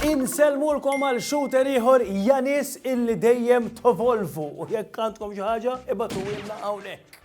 Insellmulkom għal shooter ieħor Janis illi dejjem tovolvu u jekk għandkom xi ħaġa ibatuwilna hawnhekk.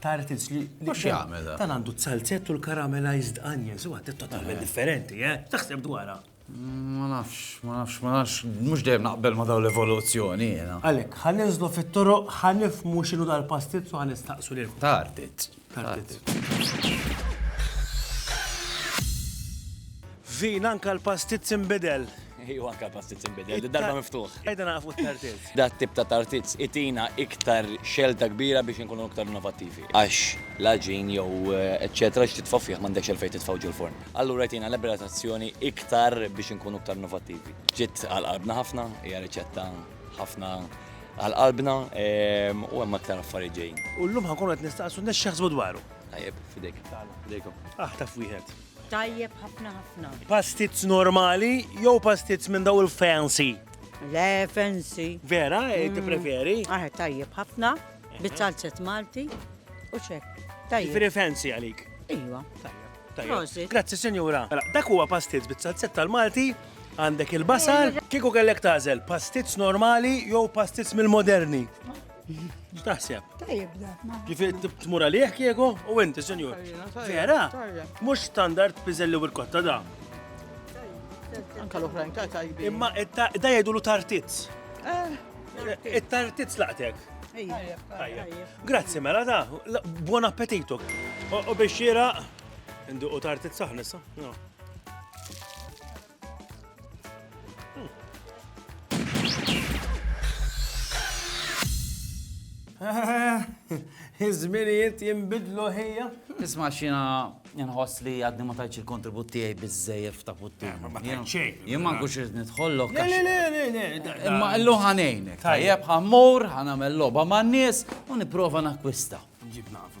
Tartins li. Mhux jagħmel. Dan għandu t-salzett u l-caramelized onions, huwa totalment differenti, eh? Taħseb dwarha. Ma nafx, ma nafx, ma nafx, mhux dejjem naqbel ma daw l-evoluzzjoni jiena. Għalhekk, ħa ninżlu fit-toroq, ħa nifhmu x'inhu dal-pastizz u ħa nistaqsu lil. Tartizz. Tartizz. Vin anka l-pastizz inbidel. Iju anka l-pastiz imbidel, darba miftuħ. Ejda nafu t-tartiz. Da tip ta' tartiz itina iktar xelta kbira biex nkunu iktar innovativi. Għax laġin jew eccetera eh, x'titfa' fih m'għandekx għal fejn titfgħu ġol forn. Allura jtina liberatazzjoni iktar biex nkunu iktar innovativi. Ġiet għal qalbna ħafna, hija riċetta ħafna għal qalbna ehm, u hemm aktar affarijiet ġejjin. U llum ħankun qed nistaqsu nexxaħsbu dwaru. Tajjeb, fidejk. Fidejkom. Aħtaf wieħed. Tajjeb ħafna ħafna. Pastizz normali jew pastizz minn daw il-fancy? Le, fancy. Vera, eh, mm. ti preferi? Ah, tajjeb ħafna, bizzalzet Malti u ċek. Tajjeb. Preferi fancy għalik? Iwa. Tajjeb. Grazzi, senjura. Mela, dak huwa pastizz bizzalzet tal-Malti għandek il-basal, kieku kellek tażel pastizz normali jew pastizz mill-moderni. X'taħseb? Tajjeb da. Kif tmur għalih kieku u inti, senjur? Vera? Mhux standard piżelli u l-kotta da. Anka l-oħrajn ta' tajbi. Imma da jgħidulu tartizz. Eh. It-tartizz laqtek. Grazzi mela da, buon appetitu. U biex xira, nduqu tartizz saħnissa. Iż-żminijiet jinbidlu ħija. Isma' xina nħoss li għadni ma tajċ il-kontribut tiegħi biżejjed ta' putti. Eh, ma tajċ Jien ma nkunx irid nidħollok. Le, le, le, le. Imma illu ħanejnek. Tajjeb ħammur, ħanamel logħba man-nies u nipprova nakwista. Ġib naf.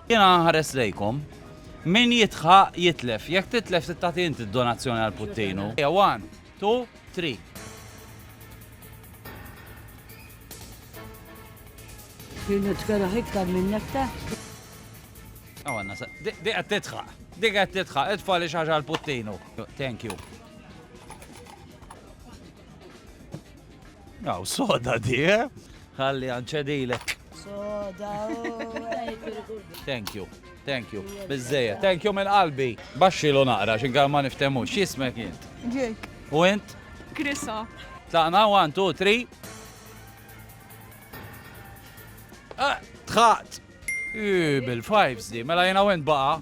Jiena nħares lejkom. Min jidħaq, jitlef. Jekk titlef trid tagħti inti d-donazzjoni għal Puttinu. Ejja, one, two, three. Kien nitkeraħ iktar minn nektar. Għanna, dik qed titħaq, dik qed titħaq, itfa li xaġa l-puttinu. Thank you. Aw, soda di, eh? Ħalli għanċedilek. Soda. Thank you. Thank you. Bizzeja. Thank you minn qalbi. Baxxi lu naqra, xinkar ma niftemu. Xismek jint? Ġek. U int? Krisa. Tlaqna, one, two, three. Ah, tħaqt. Bil-fives di, mela jena went baqa.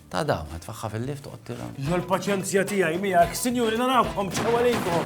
Ta' dam, tfaħħa fil-lift toqgħod tira. L-paċenzja tiegħi miegħek, sinjuri narawkom, ċewwa lejkom.